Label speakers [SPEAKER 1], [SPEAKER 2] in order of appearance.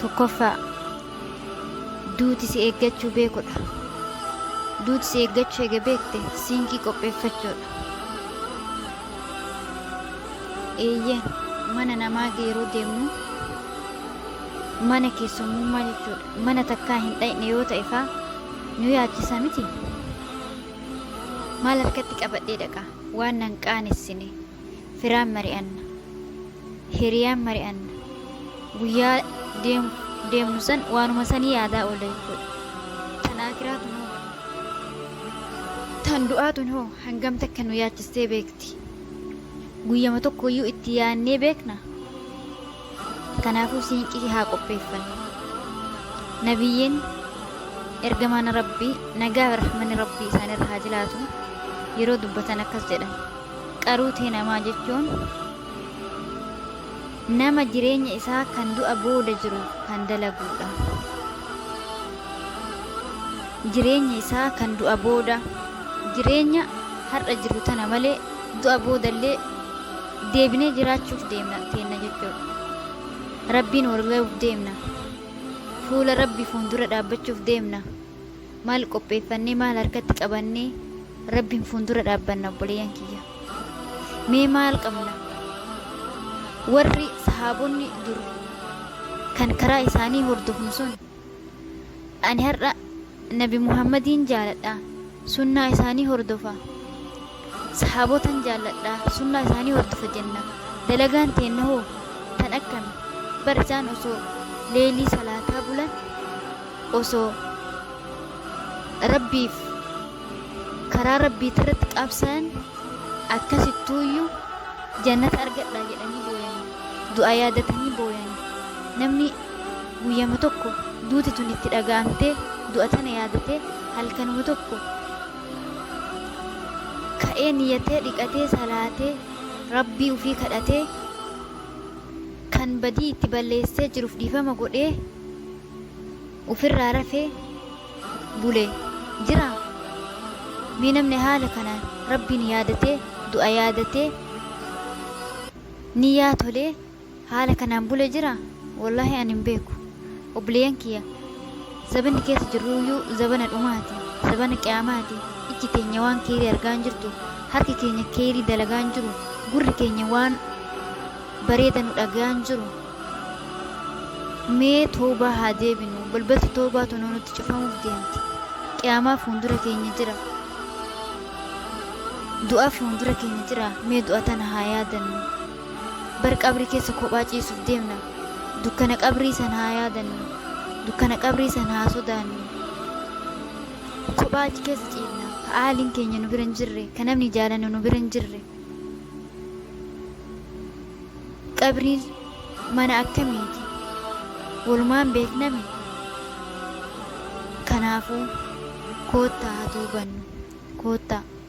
[SPEAKER 1] Tokkoffaa, duuti si eeggachuu beekudha. Duuti si eeggachuu eega beekte siinkii qopheeffachuudha. Eeyyeen mana namaa yeroo deemnu mana keessummummaa jechuudha. Mana takkaa hin dhaqne yoo ta'e faa nu yaachisa miti. Maal harkatti qabadhee dhaqa waan nan qaanessine. firaan mari'anna hiriyaan mari'anna guyyaa deem- deemnu san waanuma sanii yaadaa oolla jechuudha tan akiraa tun hoo tan du'aa tun hoo hangam takka nu yaachistee beekti guyyama tokkoyyuu itti yaannee beekna Kanaafuu siinqii haa qopheeffannu. Nabiyyiin ergamaan Rabbii nagaa fi rahmanni Rabbii isaanirra haa jiraatu yeroo dubbatan akkas jedhan. Qaruu tee namaa jechuun nama jireenya isaa kan du'a booda jiru kan dalaguudha. Jireenya isaa kan du'a booda jireenya har'a jiru tana malee du'a boodallee deebinee jiraachuuf deemna teenna jechuudha. Rabbiin wal ga'uuf deemna. Fuula Rabbi fuundura dhaabbachuuf deemna. Maal qopheeffannee maal harkatti qabannee Rabbiin fuundura dhaabbanna obboleeyyan kiyya. Mee maal qabna? Warri sahaabonni dur kan karaa isaanii hordofnu sun Ani har'a Nabi Muhammadiin jaaladha, sunnaa isaanii hordofa. Sahaabotan jaalladha, sunnaa isaanii hordofa jenna. Dalagaan teenna hoo tan akkami? Bar isaan osoo leeylii salaataa bulan, osoo Rabbiif karaa Rabbiitirratti qabsaayan akkasittuuyyu jannata argadha jedhanii booyanii, du'a yaadatanii booyanii. Namni. Guyyama tokko duuti tun itti dhaga'amtee du'a tana yaadatee halkanuma tokko ka'ee niyyatee dhiqatee salaatee rabbii ufii kadhatee kan badii itti balleessee jiruuf dhiifama godhee ufirraa rafee bule jira mee namni haala kanaan rabbiin yaadatee du'a yaadatee niyyaa tolee Haala kanaan bule jira? Wollahi ani hin beeku. Obboleeyyan kiyya, zabanni keessa jirruuyyuu zabana dhumaati, zabana qiyaamaati. Ijji teenya waan keeyrii argaa hin jirtu, harki keenya keeyrii dalagaa hin jiru, gurri keenya waan bareeda nu dhagayaa hin jiru. Mee tawbaa haa deebinu, balbalti tawbaa tunuu nutti cufamuuf deemti. Qiyaamaa fuundura keenya jira. Du'a fuundura keenya jira, mee du'a tana haa yaadannu. Bar qabrii keessa kophaa ciisuuf deemna. Dukkana qabrii san haa yaadannu. Dukkana qabrii san haa sodaannu. Kophaa achi keessa ciifna. Ka aaliin keenya nu bira hin jirre, ka namni jaalannu nu bira hin jirre. Qabriin mana akkamiiti? Walumaan beeknami? Kanaafuu koottaa haa toobannu. Koottaa.